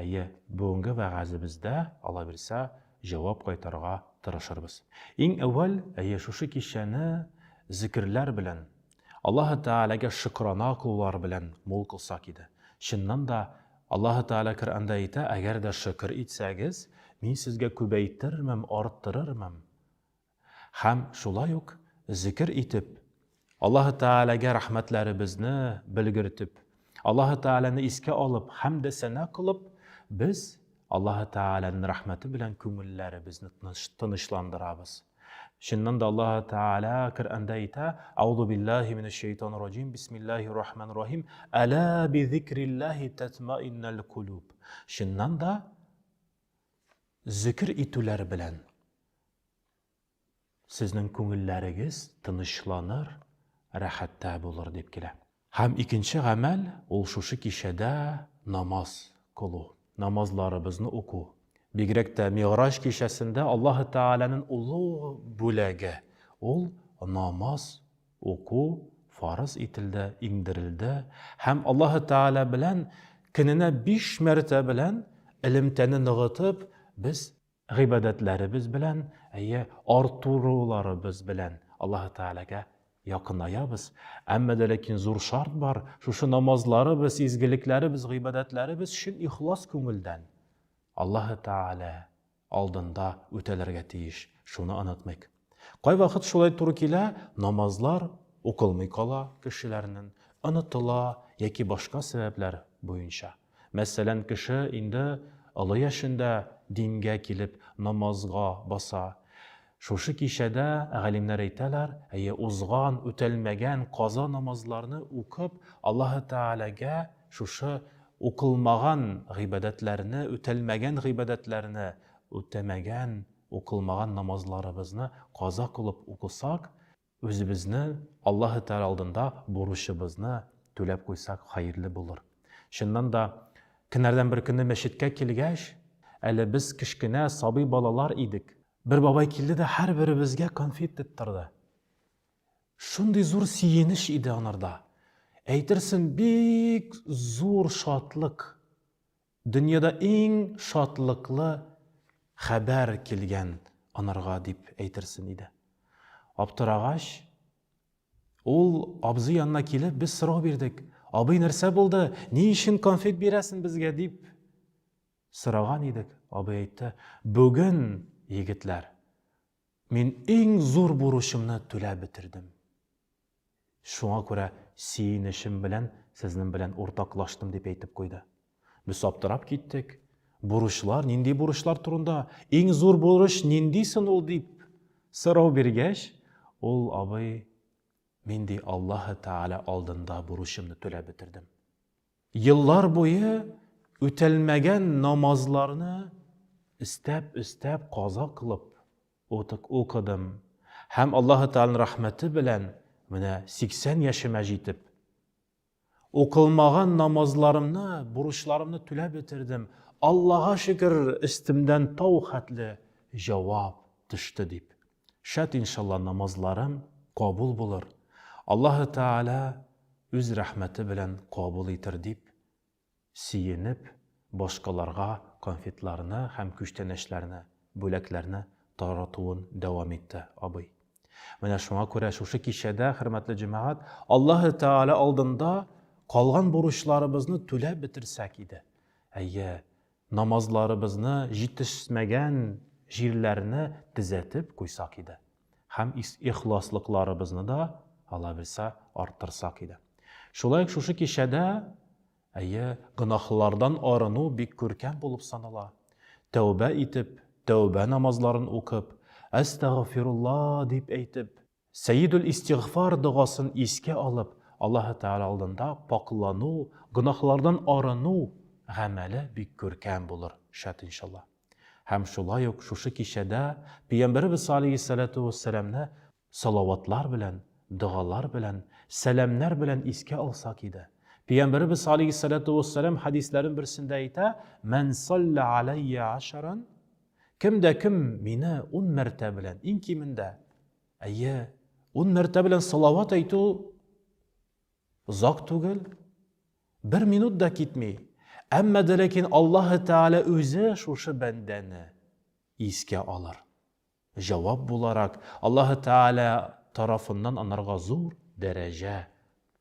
Әйе, бүгенге вәгазебездә, аллабирса, җавап кайтарырга тырышырбыз. Иң әүвәл, әйе, шушы кичәне зикерләр белән, Аллаһы Тәгаләгә шөкрана кылулар белән мул кылсак иде. Чыннан да, Аллаһы Тәгалә Коръәндә әйтә, Әгәр дә шөкер итсәгез, Мин сезгә күбәйтермен, арттырырмын. Һәм шулай ук зикер итеп, Аллаһы Тәгаләгә рәхмәтләребезне белгертеп, Аллаһы Тәгаләне искә алып, хәмдә сәна кылып, без Аллаһы Тәгаләнең рәхмәте белән күңелләребезне тынычландырабыз. Чыннан да Аллаһы Тәгалә Коръәндә әйтә: "Аузу биллаһи минәш шайтанир раҗим, бисмиллаһир рахманир рахим, әла би зикриллаһи татмаиннал кулуб". Чыннан да Зөкер итүләр белән сезнең күңелләрегез тынычланыр, рәхәттә булыр дип килә. Һәм икенче гамәл, ул шушы кичәдә намаз кылу, намазларыбызны уку. Бигрәк тә Мигъраҗ кичәсендә Аллаһы Тәгаләнең олуг бүләге, ул намаз Уку фарыз ителде, иңдерелде һәм Аллаһы Тәгалә белән көненә биш мәртә белән элемтәне ныгытып, без гыйбадәтләребез белән, әйе, артуруларыбыз белән Аллаһы Тәгаләгә якынаябыз. Әмма дә ләкин зур шарт бар, шушы намазларыбыз, изгелекләребез, гыйбадәтләребез чын ихлас күңелдән Аллаһы Тәгалә алдында үтәлергә тиеш, шуны онытмыйк. Кайвакыт шулай туры килә, намазлар укылмый кала кешеләрнен, онытыла яки башка сәбәпләр буенча. Мәсәлән, кеше инде олы яшендә дингә килеп намазга баса. Шушы кичәдә галимнәр әйтәләр, әйе, узган, үтәлмәгән каза намазларны укып, Аллаһы Тәгаләгә шушы укылмаган гыйбадәтләрне, үтәлмәгән гыйбадәтләрне, үтәмәгән, укылмаган намазларыбызны каза кылып укысак, Үзебезне Аллаһы Тәгалә алдында бурычыбызны түләп куйсак хәерле булыр. Чыннан да, көннәрдән бер көнне мәчеткә килгәч, әле без кечкенә сабый балалар идек. Бер бабай килде дә һәрберебезгә конфет тоттырды. Шундый зур сөенеч иде анарда. Әйтерсең, бик зур шатлык Дөньяда иң шатлыклы хәбәр килгән анарга дип әйтерсен иде. Аптырагач, ул абзый янына килеп, без сорау бирдек. Абый, нәрсә булды? Ни өчен конфет бирәсен безгә дип сораган идек. Абый әйтте, бүген, егетләр, Мин иң зур бурычымны түләп бетердем. Шуңа күрә сөенечем белән сезнең белән уртаклаштым, дип әйтеп куйды. Без аптырап киттек. Бурычлар, нинди бурычлар турында, иң зур бурыч нинди сон ул, дип сорау биргәч, ул абый, Мин ди Аллаһы Тәгалә алдында бурычымны түләп бетердем. Еллар буе үтәлмәгән намазларны өстәп-өстәп каза кылып укыдым һәм Аллаһы Тәгаләнең рәхмәте белән менә 80 яшемә җитеп, укылмаган намазларымны, бурычларымны түләп бетердем, Аллага шөкер, өстемдән тау хәтле җавап төште, дип Шат иншалла намазларым кабул булыр, Аллаһы Тәгалә үз рәхмәте белән кабул итер дип сөенеп, башкаларга конфетларны һәм күчтәнәчләрне, бүләкләрне таратуын дәвам итте абый. Менә шуңа күрә шушы кичәдә, хөрмәтле җәмәгать, Аллаһы Тәгалә алдында калган бурычларыбызны түләп бетерсәк иде. Әйе, Намазларыбызны җитешсмәгән җирләрне төзәтеп куйсак иде һәм ихласлыкларыбызны да алабилсә арттырсак иде. Шулай ук шушы кичәдә, әйе, гөнаһлардан арыну бик күркәм булып санала. Тәүбә итеп, тәүбә намазларын укып, Әстәгъфирулла дип әйтеп, Сәедул-Истигъфар догасын искә алып, Аллаһы Тәгалә алдында пакълану, гөнаһлардан арыну гамәле бик күркәм булыр, шат иншалла. Һәм шулай ук шушы кичәдә Пәйгамбәребез алейһиссәләтү вәссәламне салаватлар белән, догалар белән, сәламнәр белән искә алсак иде. Пәйгамбәребез алейһиссәләтү вәссәлам хәдисләрен берсендә әйтә, Мән саллә аләйя ашаран, Кем дә кем мине ун мәртә белән, иң кимендә, әйе, ун мәртә белән салават әйтү озак түгел, бер минут да китми. Әмма дә ләкин Аллаһ Тәгалә үзе шушы бәндәне искә алыр. Җавап буларак Аллаһ Тәгалә тарафыннан анарга зур дәрәҗә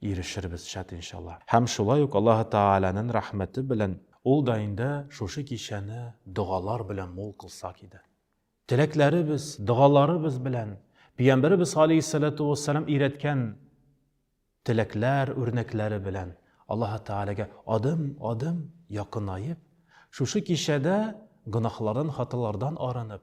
Ирешербез, шат иншалла. Һәм шулай ук Аллаһы Тәгаләнен рәхмәте белән Ул да инде шушы кичәне догалар белән мул кылсак иде. Теләкләребез, догаларыбыз белән Пиямбәребез галәйһиссәләтү вәссәлам өйрәткән теләкләр, үрнәкләре белән Аллаһы Тәгаләгә адым, адым якынаеп, шушы кичәдә гөнаһлардан, хаталардан арынып,